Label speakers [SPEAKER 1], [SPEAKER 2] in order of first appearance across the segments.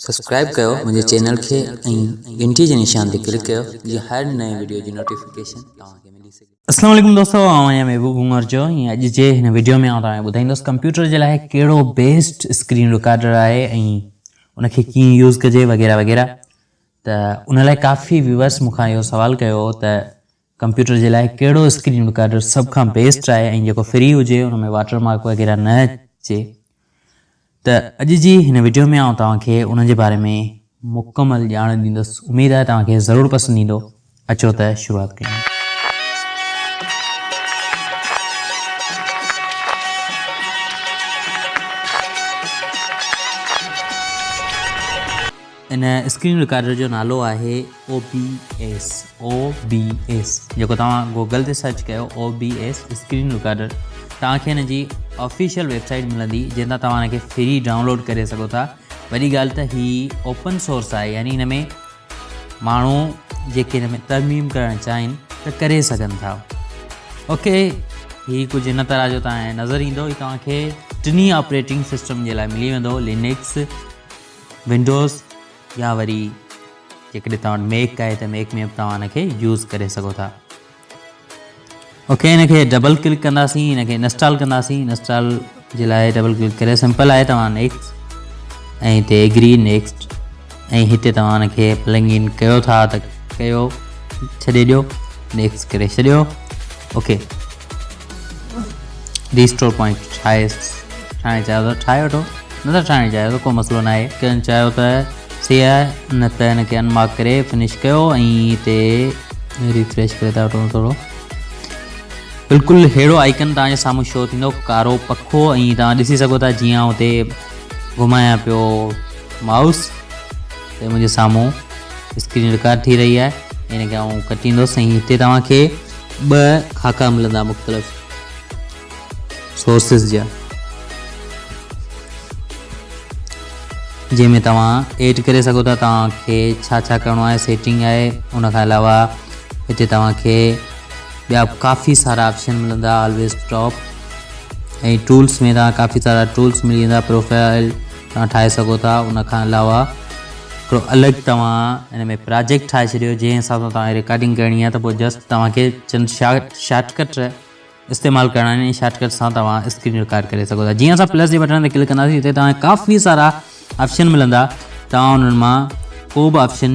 [SPEAKER 1] Subscribe ڪيو منهنجي channel کي ۽ گهنٽي جي نشان تي ڪلڪ ڪيو جيئن هر نئين وڊيو جي نوٽيفڪيشن توهان کي ملي سگهي. اسلام عليڪم دوستو آئون
[SPEAKER 2] آهيان محبوب گونگر جو ۽ اڄ جي هن وڊيو ۾ آئون توهان کي ٻڌائيندس ڪمپيوٽر جي لاء ڪهڙو بيسٽ اسڪرين رڪارڊر آهي ۽ ان کي ڪيئن يوز ڪجي وغيره وغيره ته ان لاء ڪافي ويورس مون کان اهو سوال ڪيو هو ته ڪمپيوٽر جي لاء ڪهڙو اسڪرين رڪارڊر سڀ کان بيسٽ آهي ۽ جيڪو فري هجي ان ۾ واٽر مارڪ وغيره نه اچي ته اڄ جي هن وڊيو ۾ آئون توهان کي ان جي باري ۾ مڪمل ڄاڻ ڏيندس اميد آهي توهان کي ضرور پسند ايندو اچو ته شروعات ڪيون. ان اسڪرين رڪارڊر جو نالو آهي OBS OBS جيڪو توهان گوگل تي سرچ ڪيو OBS اسڪرين رڪارڊر توهان کي ان جي آفيشل ويب سائيٽ ملندي جنهن تان توهان ان کي فري ڊائونلوڊ ڪري سگهو ٿا وڏي ڳالهه ته هي اوپن سورس آهي يعني ان ۾ ماڻهو جيڪي ان ۾ ترميم ڪرڻ چاهين ته ڪري سگهن ٿا اوڪي هي ڪجهه هن طرح جو تان نظر ايندو هي توهان کي ٽنهي آپريٽنگ سسٽم جي لاء ملي ويندو لينڪس ونڊوز يا وري جيڪڏهن توهان وٽ ميڪ آهي ته ميڪ ۾ به توهان ان کي يوز ڪري سگهو ٿا اوڪي ان کي ڊبل ڪلڪ ڪنداسين ان کي انسٽال ڪنداسين انسٽال جي لاء ڊبل ڪلڪ ڪري سمپل آهي توهان نيڪسٽ ۽ هتي ايگري نيڪسٽ ۽ هتي توهان ان کي پلنگ ان ڪيو ٿا ته ڪيو ڇڏي ڏيو نيڪسٽ ڪري ڇڏيو اوڪي ريسٽور پوائنٽ ٺاهي ٺاهڻ چاهيو ته ٺاهي وٺو نه ٿا ٺاهڻ چاهيو ته ڪو مسئلو ناهي ڪن چاهيو ته سي آهي نه ته هن کي انمارڪ ڪري فنش ڪيو ۽ هتي ريفريش ڪري ٿا وٺو ٿورو بلڪل هيڙو آئيڪن تان سامو شو ٿيندو ڪارو پکو اي تان ڏسي سگو ٿا جيان اوتي گھمايا پيو ماؤس ته مجھے سامو اسڪرين ریڪارڊ ٿي رہي آ ان کي آئون ڪٽيندو سائين ھتي توهان کي ٻه خاڪا ملندا مختلف سورسز جا جنهن ۾ توهان ايڊ ڪري سگهو ٿا توهان کي ڇا ڇا ڪرڻو آهي سيٽنگ آهي ان کان علاوه هتي توهان کي ٻيا ڪافي سارا آپشن ملندا آلويز ٽاپ ۽ ٽولس ۾ توهان کي ڪافي سارا ٽولس ملي ويندا پروفائل توهان ٺاهي سگهو ٿا ان کان علاوه هڪڙو الڳ توهان ان ۾ پراجيڪٽ ٺاهي ڇڏيو جنهن حساب سان توهان کي رڪارڊنگ ڪرڻي آهي ته پوء جسٽ توهان کي چند شارٽ ڪٽ استعمال ڪرڻا آهن ۽ شارٽ ڪٽ سان توهان اسڪرين رڪارڊ ڪري سگهو ٿا جيئن اسان پلس جي بٽڻ تي ڪلڪ ڪنداسين اتي توهان کي ڪافي سارا آپشن ملندا توهان انهن مان ڪو به آپشن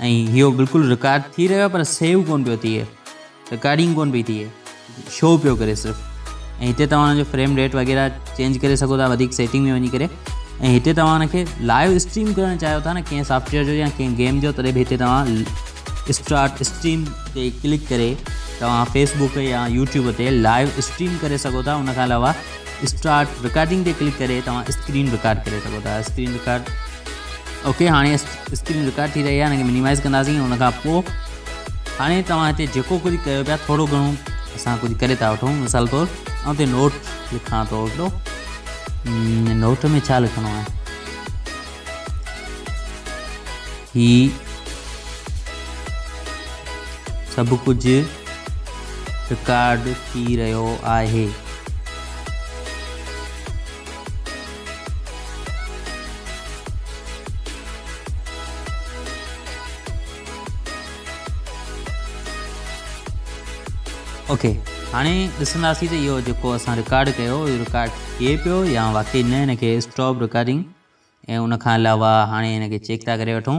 [SPEAKER 2] ۽ اهو بلڪل رڪارڊ ٿي رهيو آهي پر سيو ڪون پيو ٿئي رڪارڊنگ ڪون پئي ٿئي شو پيو ڪري صرف ۽ هتي توهان ان جو فريم ريٽ وغيره چينج ڪري سگهو ٿا وڌيڪ سيٽنگ ۾ وڃي ڪري ۽ هتي توهان ان کي لائيو اسٽريم ڪرڻ چاهيو ٿا نه ڪنهن سافٽويئر جو يا ڪنهن گيم جو تڏهن به هتي توهان اسٽارٽ اسٽريم تي ڪلڪ ڪري توهان فيسبوڪ يا يوٽيوب تي لائيو اسٽريم ڪري سگهو ٿا ان کان علاوه اسٽارٽ رڪارڊنگ تي ڪلڪ ڪري توهان اسڪرين رڪارڊ ڪري سگهو ٿا اسڪرين رڪارڊ اوڪي هاڻي اسڪرين رڪارڊ ٿي رهي آهي ان کي منيمائز ڪنداسين ان کان پوء هاڻي توهان هتي جيڪو ڪجهه ڪيو پيا ٿورو گهڻو اسان ڪجهه ڪري ٿا وٺون مثال طور آئون هتي نوٽ لکان ٿو هڪڙو نوٽ ۾ ڇا لکڻو آهي هي سڀ ڪجهه رڪارڊ ٿي رهيو آهي اوڪي هاڻي ڏسنداسين ته اهو جيڪو اسان رڪارڊ ڪيو اهو رڪارڊ ٿئي پيو يا واقعي نه هن کي اسٽاپ رڪارڊنگ ۽ ان کان علاوه هاڻي هن کي چيڪ ٿا ڪري وٺون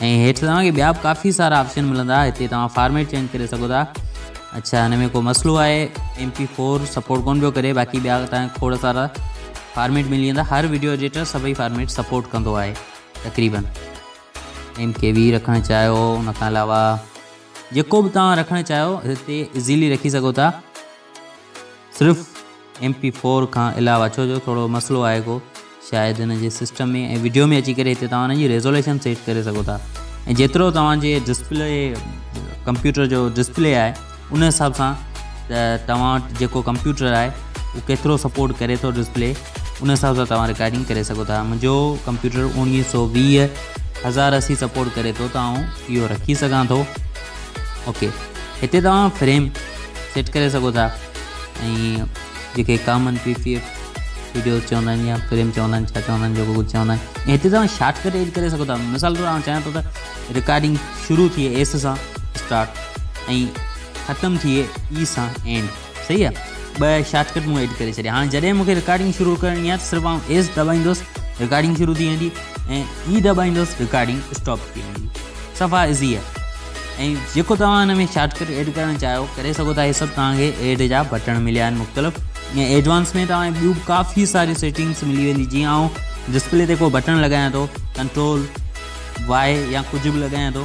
[SPEAKER 2] ۽ هيٺ توهان کي ٻيا به ڪافي سارا آپشن ملندا هتي توهان فارميٽ چينج ڪري سگهو ٿا اڇا هن ۾ ڪو مسئلو آهي ايم پي فور سپورٽ ڪون پيو ڪري باقي ٻيا توهان کي کوڙ سارا فارميٽ ملي ويندا هر ويڊيو ايڊيٽر سڀئي فارميٽ سپورٽ ڪندو آهي تقريبن ايم ڪي وي رکڻ چاهيو ان کان علاوه جيڪو به توهان رکڻ چاهيو هتي ايزيلي رکي سگهو ٿا صرف ايم پي فور کان علاوه ڇو جو ٿورو مسئلو آهي ڪو شايد ان جي سسٽم ۾ ۽ وڊيو ۾ اچي ڪري هتي توهان ان جي ريزوليشن سيٽ ڪري سگهو ٿا ۽ جيترو توهان جي ڊسپلي ڪمپيوٽر جو ڊسپلي آهي ان حساب سان ته توهان وٽ جيڪو ڪمپيوٽر آهي اهو ڪيترو سپورٽ ڪري ٿو ڊسپلي ان حساب سان توهان رڪارڊنگ ڪري سگهو ٿا منهنجو ڪمپيوٽر اوڻيهه سو ويهه هزار اسي سپورٽ ڪري ٿو ته آئون اهو رکي سگهان ٿو اوڪي هتي توهان فريم سيٽ ڪري سگهو ٿا ۽ جيڪي common P P F videos چوندا آهن يا فريم چوندا آهن ڇا چوندا آهن جيڪو ڪجهه چوندا آهن ۽ هتي توهان شارٽ ڪٽ ايڊ ڪري سگهو ٿا مثال طور آؤں چاهيان ٿو ته رڪارڊنگ شروع ٿئي ايس سان اسٽارٽ ۽ ختم ٿئي اي سان اينڊ صحيح آ ٻه شارٽ ڪٽ مون ايڊ ڪري ڇڏيا هاڻي جڏهن مونکي رڪارڊنگ شروع ڪرڻي آهي ته صرف آئون ايس دٻائيندوس رڪارڊنگ شروع ٿي ويندي ۽ اي دٻائيندوس رڪارڊنگ اسٽاپ ٿي ويندي صفا ايزي آهي ۽ جيڪو توهان هن ۾ شارٽ ڪٽ ايڊ ڪرڻ چاهيو ڪري سگهو ٿا هي سڀ توهان کي ايڊ جا بٽڻ مليا آهن مختلف ۽ ايڊوانس ۾ توهان ٻيون به ڪافي ساريون سيٽنگس ملي ويندي جيئن آئون ڊسپلي تي ڪو بٽڻ لڳايان ٿو ڪنٽرول واء يا ڪجهه به لڳايان ٿو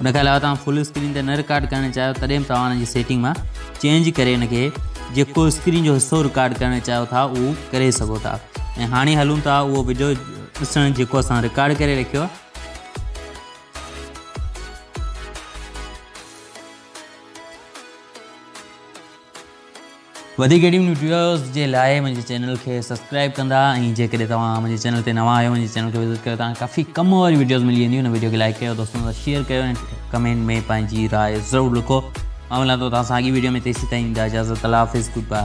[SPEAKER 2] ان کان علاوه توهان فل اسڪرين تي نه رڪارڊ ڪرڻ چاهيو تڏهن به توهان ان جي سيٽنگ مان چينج ڪري ان کي جيڪو اسڪرين جو حصو رڪارڊ ڪرڻ چاهيو ٿا اهو ڪري سگهو ٿا ۽ هاڻي هلون ٿا اهو وڊيو ڏسڻ جيڪو اسان رڪارڊ ڪري رکيو آهي وڌيڪ اهڙيون وڊيوز جي لاء منهنجي چينل کي سبسڪرائب ڪندا ۽ جيڪڏهن توهان منهنجي چينل تي نوان آهيو منهنجي چينل کي وزٽ ڪيو توهان کي ڪافي ڪم واريون وڊيوز ملي وينديون هن وڊيو کي لائڪ ڪيو دوستن سان شيئر ڪيو ۽ ڪمينٽ ۾ پنهنجي راء ضرور لکو مان ملان ٿو توهان سان اڳي وڊيو ۾ تيسي تائين ڏيندا اجازت الله حافظ گڊ باء